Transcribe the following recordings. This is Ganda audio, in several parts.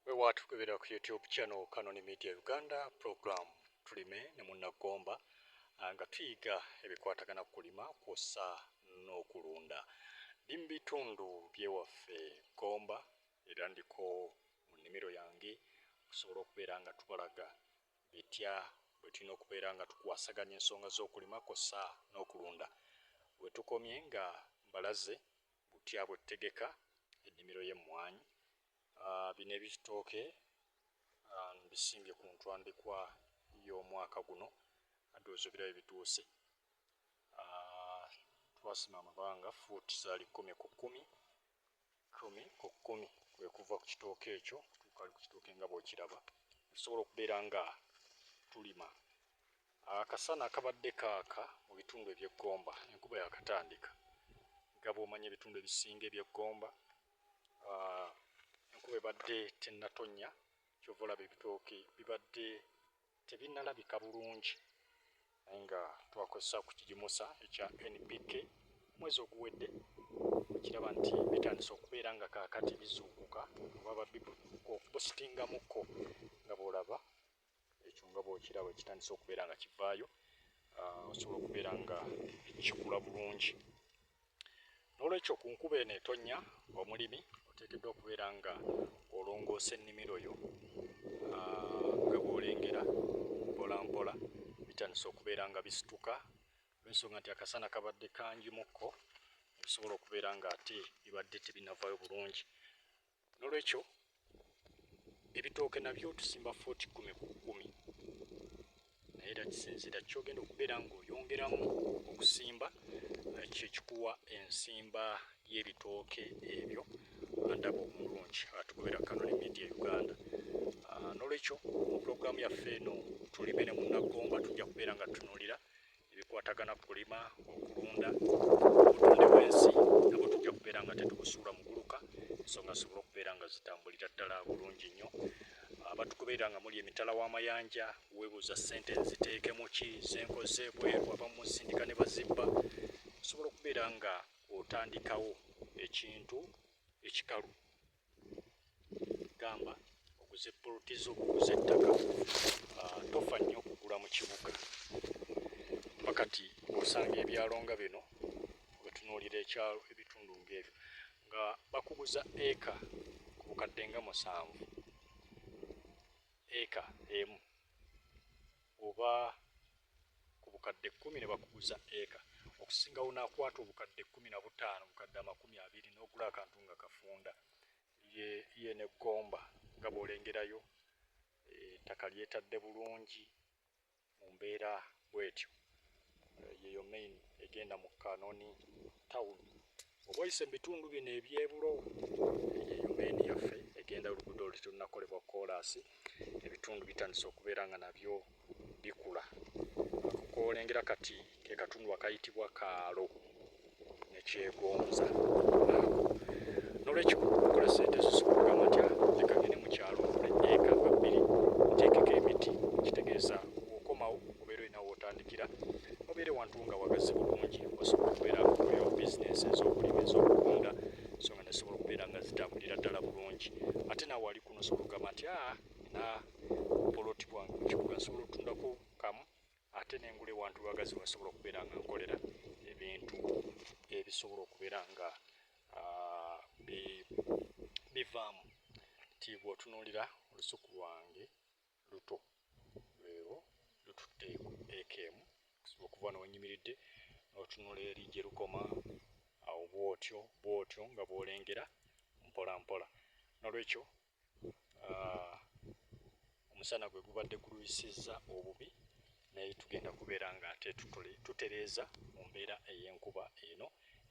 wewaatukubira ku youtube channel kanoni media uganda program tulime ne munnagomba ah, nga tuyiga ebikwatagana ku kulima kwossa n'okulunda ndi mu bitundu byewaffe gomba era ndiko mu nnimiro yange okusobola okubeera nga tubalaga bitya bwe tulina okubeera nga tukwasaganya ensonga z'okulima kwossa n'okulunda wetukomye nga mbalaze Butya bwetutegeka ennimiro y'emmwanyi. Bino ebitooke mbisimbye ku ntwambikwa y'omwaka guno ndowooza obirabye bituuse. Twasima amabanga fuuti zaali kkumi ku kkumi, kkumi ku kkumi kwe kuva ku kitooke ekyo okutuuka ku kitooke nga bw'okiraba. Tusobola okubeera nga tulima. Akasana akabadde kaaka mu bitundu eby'e Gomba enkuba yakatandika nga bw'omanya ebitundu ebisinga eby'e Gomba enkuba ebadde tennatonnya ky'ova olaba ebitooke bibadde tebinnalabika bulungi naye nga twakozesa okukigimusa ekya NPK omwezi oguwedde okiraba nti bitandise okubeera nga kaakati bizuukuka oba babikukuka okubusitingamukko nga bw'olaba ekyo nga bwokiraba ekitandise okubeera nga kivaayo ah, osobola okubeera nga kikula bulungi n'olwekyo ku nkuba eno etonnya omulimi oteekeddwa okubeera nga olongoosa ennimiro yo ah, nga bwolengera mpolampola bitandise okubeera nga bisituka olwensonga nti akasana kabadde kangi mukko ebisobola okubeera nga ate bibadde tebinavayo bulungi Nolwekyo ebitooke nabyo tusimba footi kkumi ku kkumi naye era kisinziira kyogenda okubeera ng'oyongeramu okusimba kyekikuwa ensimba y'ebitooke ebyo andaba omulungi atugobera kanoni media uganda ah, nolwekyo mu pulogulaamu yaffe eno tulime ne munnagomba tujja kubeera nga tutunuulira ebikwatagana ku kulima okulunda obutonde bwensi nabwo tujja kubeera nga tetubusuula muguluka ensonga zisobole okubeera nga zitambulira ddala bulungi nnyo abatugoberera nga muli emitala w'amayanja webuuza ssente nziteekemu ki zenkoze bweru abamu musindika ne bazibba osobola okubeera nga otandikawo ekintu ekikalu gamba oguze poloti zo oguze ettaka ah, tofa nnyo okugula mu kibuga kuba kati osanga ebyalo nga bino wetunuulira ekyalo ebitundu ngaebyo nga bakuguza eka ku bukadde nga musanvu eka emu oba ku bukadde kkumi ne bakuguza eka okusinga wonaakwata obukadde kkumi na butaano bukadde amakumi abiri n'ogula akantu nga kafunda ye ne gomba nga bw'olengerayo eh, ettaka lyetadde bulungi mu mbeera bwetyo yeyo main egenda mu kanoni town oba oyise mu bitundu bino ebyebulo yeyo main yaffe egenda oluguudo olu terunakolebwa koolaasi ebitundu bitandise okubeera nga nabyo bikula koolengera kati ke katundu akayitibwa kaalo nekyegonza nolwekyo okola sente zisukuluka matya leka ngene mukyalo nkole eka nga bbiri nteekeko emiti kitegeeza okomawo obeera olina wootandikira obeere wantu nga wagazi bulungi osobola okubeera oyo bizinensi ez'okulima ez'okutunda so nga nesobola okubeera nga zitambulira ddala bulungi ate nawe wali kuno osobola okugamba nti a ah, na poloti bwange mu kibuga nsobola otundako kamu ate nengula ewantu lwagazi wasobola okubeera nga nkolera ebintu ebisobola okubeera nga ah, bivaamu nti bwotunuulira olusuku lwange luto lweo lututte eeka emu okusobola okuva newanyimiridde notunula eri gye lukoma awo bwotyo bwotyo nga bwolengera mpola mpola nolwekyo ah, omusana gwe gubadde gulwisizza obubi naye tugenda kubeera nga ate tutereeza mu mbeera ey'enkuba eno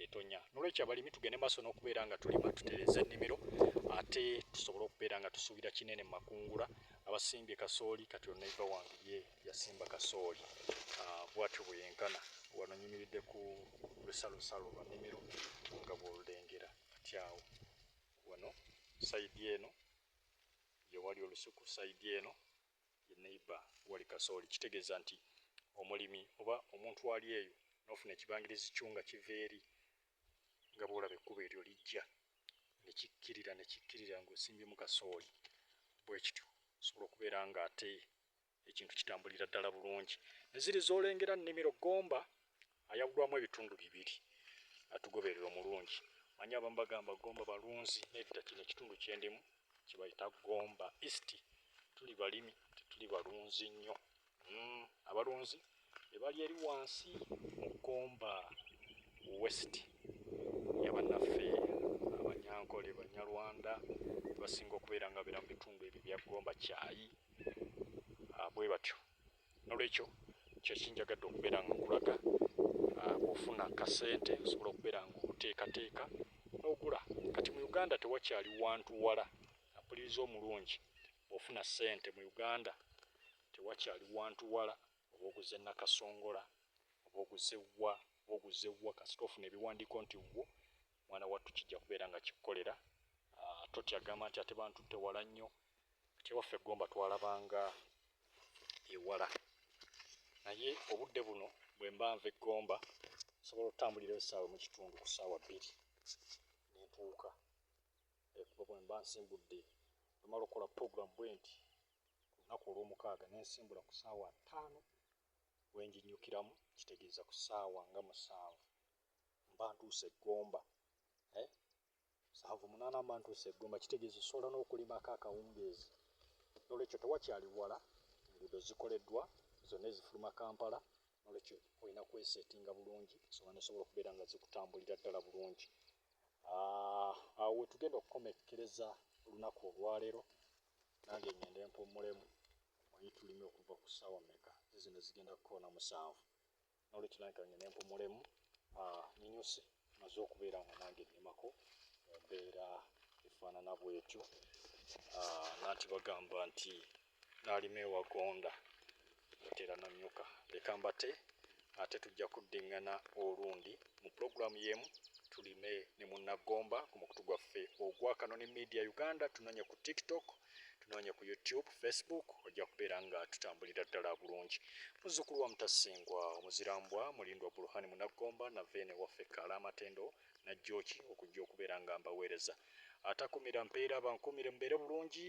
etonya nolwekyo abalimi tugende maaso n'okubeera nga tulima tutereeza ennimiro ate tusobole okubeera nga tusuubira kinene mu makungula abasimbye kasooli kati onaiva wange ye yasimba kasooli ah, bwatyo bweyenkana wano nyimiridde ku lusalosalo lwa nnimiro nga bwolulengera kati awo wano side eno yewali olusuku side eno ye neighbor wali kasooli kitegeeza nti omulimi oba omuntu ali eyo nofuna ekibangirizi kyo nga kiva eri nga bwolaba ekkubo eryo lijja nekikkirira nekikkirira ngaosimbyemu kasooli bwekityo osobola okubeera nga ate ekintu kitambulira ddala bulungi neziri zolengera nnimiro gomba ayawulwamu ebitundu bibiri atugoberera omulungi manya abamu bagamba gomba balunzi nedda kino ekitundu kyendimu kibayita gomba east tuli balimi tetuli balunzi nnyo mm, abalunzi ebali eri wansi mu Gomba West ya bannaffe Abanyankole, Banyarwanda basinga okubeera nga beera mu bitundu ebyo bya Gomba kyayi ah, bwe batyo. Nolwekyo kyekinjagadde okubeera nga nkulaga ah, bwofuna kasente osobola okubeera nga oteekateeka n'ogula. Kati mu Uganda tewakyali wantu wala, mpuliriza omulungi, bwofuna sente mu Uganda Tewakyali wantu wala oba oguze Nakasongola oba oguze wa oba oguze wa kasita ofuna ebiwandiiko nti wuwo mwana wattu kijja kubeera nga kikukolera ah, totya gamba nti ate bantutte wala nnyo kati ewaffe Gomba twalabanga ewala naye obudde buno bwe mba nva eggomba nsobola okutambulira essaawa mu kitundu ku ssaawa bbiri nentuuka ekuba bwe mba nsimbudde omala okukola puroguramu bwenti ku lunaku olw'omukaaga ne nsimbula ku ssaawa ttaano we nginnyukiramu, kitegeeza ku ssaawa nga musanvu mba ntuuse e Gomba. Eh? Musanvu munaana mba ntuuse e Gomba, kitegeeza osobola n'okulimako akawungeezi. N'olwekyo tewakyali wala, enguudo zikoleddwa zonna ezifuluma Kampala, n'olwekyo olina kweseetinga bulungi ensonga n'osobola okubeera nga zikutambulira ddala bulungi. Ah, awo we tugenda okukomekkereza olunaku olwaleero. nange ngende mpummulemu omanyi tulime okuva ku ssaawa meka ze zino zigenda kukoona musanvu nolwekyo nange kangende mpummulemu ah, ninyuse maze okubeera nga nange nnimako mu mbeera efaanana bwetyo ah, nanti bagamba nti nalima ewagonda Ntera Nanyuka. Leka mbate ate tujja kuddingana olundi mu pulogulaamu y'emu tulime ne munna Gomba ku mukutu gwaffe ogwa Kanoni Media Uganda. Tunoonye ku TikTok, tunoonye ku YouTube, Facebook, ojja kubeera nga tutambulira ddala bulungi. Muzzukulu wa Mutasingwa, Omuzirambwa, Mulindwa Buluhani Munaggomba, na Veene waffe Kaala Amatendo, Najjooki, okujja okubeera nga mbaweereza. Atakumira mpeera abankuumire mubeere bulungi.